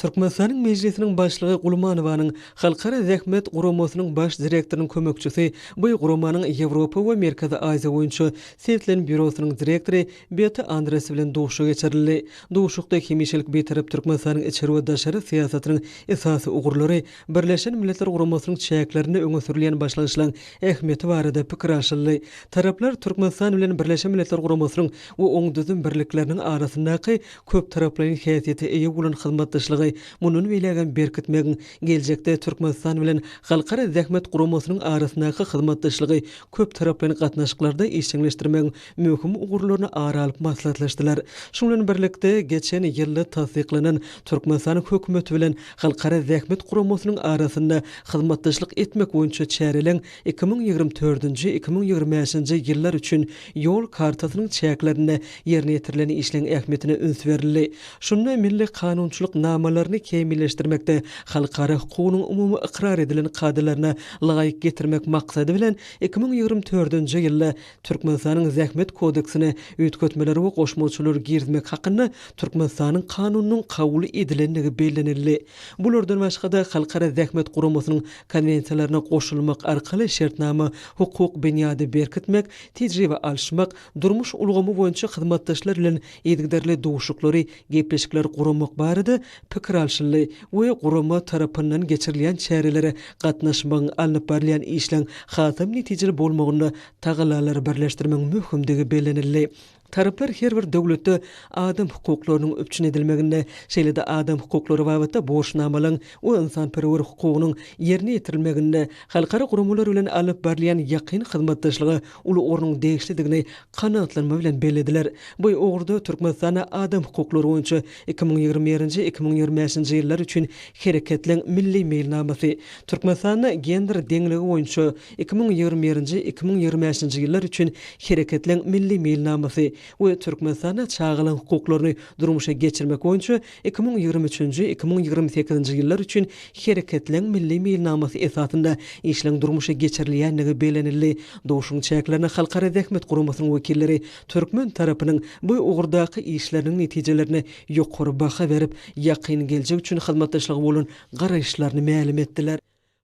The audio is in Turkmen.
Türkmenistanyň Mejlisiniň Başlygy Gulmanowanyň Halkara zähmet guramasynyň Baş direktorynyň kömekçisi, bu guramanyň Ýewropa we Merkezi Aziýa boýunça Setlen býurosynyň direktory Beta Andres bilen duşuşyk geçirildi. Duşuşykda hemişelik Bitarap Türkmenistanyň içeri we daşary syýasatynyň esasy ugurlary, Birleşen Milletler Guramasynyň çäklerinde öňe sürülýän başlangyçlaryň ähmiýeti barada pikir alşyldy. Taraplar Türkmenistan bilen Birleşen Milletler Guramasynyň we oň düzüm birlikleriniň arasyndaky köptaraplaýyn häsiýete eýe bolan hyzmatdaşlygy mundan beýlägem berkitmegiň, geljekde Türkmenistan bilen Halkara zähmet guramasynyň arasyndaky hyzmatdaşlygy köptaraplaýyn gatnaşyklarda işjeňleşdirmegiň möhüm ugurlaryny ara alyp maslahatlaşdylar. Şunuň bilen birlikde, geçen ýylda tassyklanan Türkmenistanyň Hökümeti bilen Halkara zähmet guramasynyň arasynda hyzmatdaşlyk etmek boýunça çäreleň Iki müň ýigrimi dördünji-iki müň ýigrimi bäşinji ýyllar üçin Ýol kartasynyň çäklerinde ýerine ýetirilen işleň ähmiýetine üns berildi. Şunda milli kanunçylyk namalaryny kämilleşdirmekde halkara hukugynyň umumy ykrar edilen kadalaryna laýyk getirmek maksady bilen, iki müň ýigrimi dördünji ýylda Türkmenistanyň Zähmet kodeksine üýtgetmeler we goşmaçalar girizmek hakynda Türkmenistanyň Kanunynyň kabul edilendigi bellenildi. Bulardan başga-da, Halkara zähmet guramasynyň Konwensiýalaryna goşulmak arkaly şertnama hukuk binýady berkitmek, tejribe alyşmak, durmuş ulgamy boýunça hyzmatdaşlar bilen yzygiderli duşuklary, gepleşikleri guramak barada pikir alşyldy we gurama tarapyndan geçirilýän çärelere gatnaşmagyň alnyp barylýan işleň hasam netijeli bolmagynda tagallalary birleşdirmegiň möhümdigi bellenildi. Taraplar her bir döwletde adam hukuklarynyň üpjün edilmeginde, şeýle-de adam hukuklary babatda borçnamalaryň we ynsanperwer hukugynyň ýerine ýetirilmeginde halkara guramalar bilen alnyp barylýan ýakyn hyzmatdaşlyga uly ornuň degişlidigini kanagatlanma bilen bellediler. Bu ugurda Türkmenistanda Adam hukuklary boýunça iki müň ýigrimi birinji, iki müň ýigrimi bäşinji ýyllar üçin Hereketleň milli meýilnamasy, Türkmenistanda Gender deňligi boýunça Iki müň ýigrimi birinji, iki müň ýigrimi bäşinji ýyllar üçin Hereketleň milli meýilnamasy we Türkmenistanda çagalaryň hukuklaryny durmuşa geçirmek boýunça iki müň ýigrimi üçünji, iki müň ýigrimi sekizinji ýyllar üçin Hereketleň milli meýilnamasy esasynda işleň durmuşa geçirilýändigi bellenildi. Duşuň çäklerine Halkara Zähmet Guramasynyň wekilleri türkmen tarapynyň bu ugurdaky işleriniň netijelerine ýokary baha berip, ýakyn geljek üçin hyzmatdaşlyga bolan garaýyşlaryny mälim etdiler.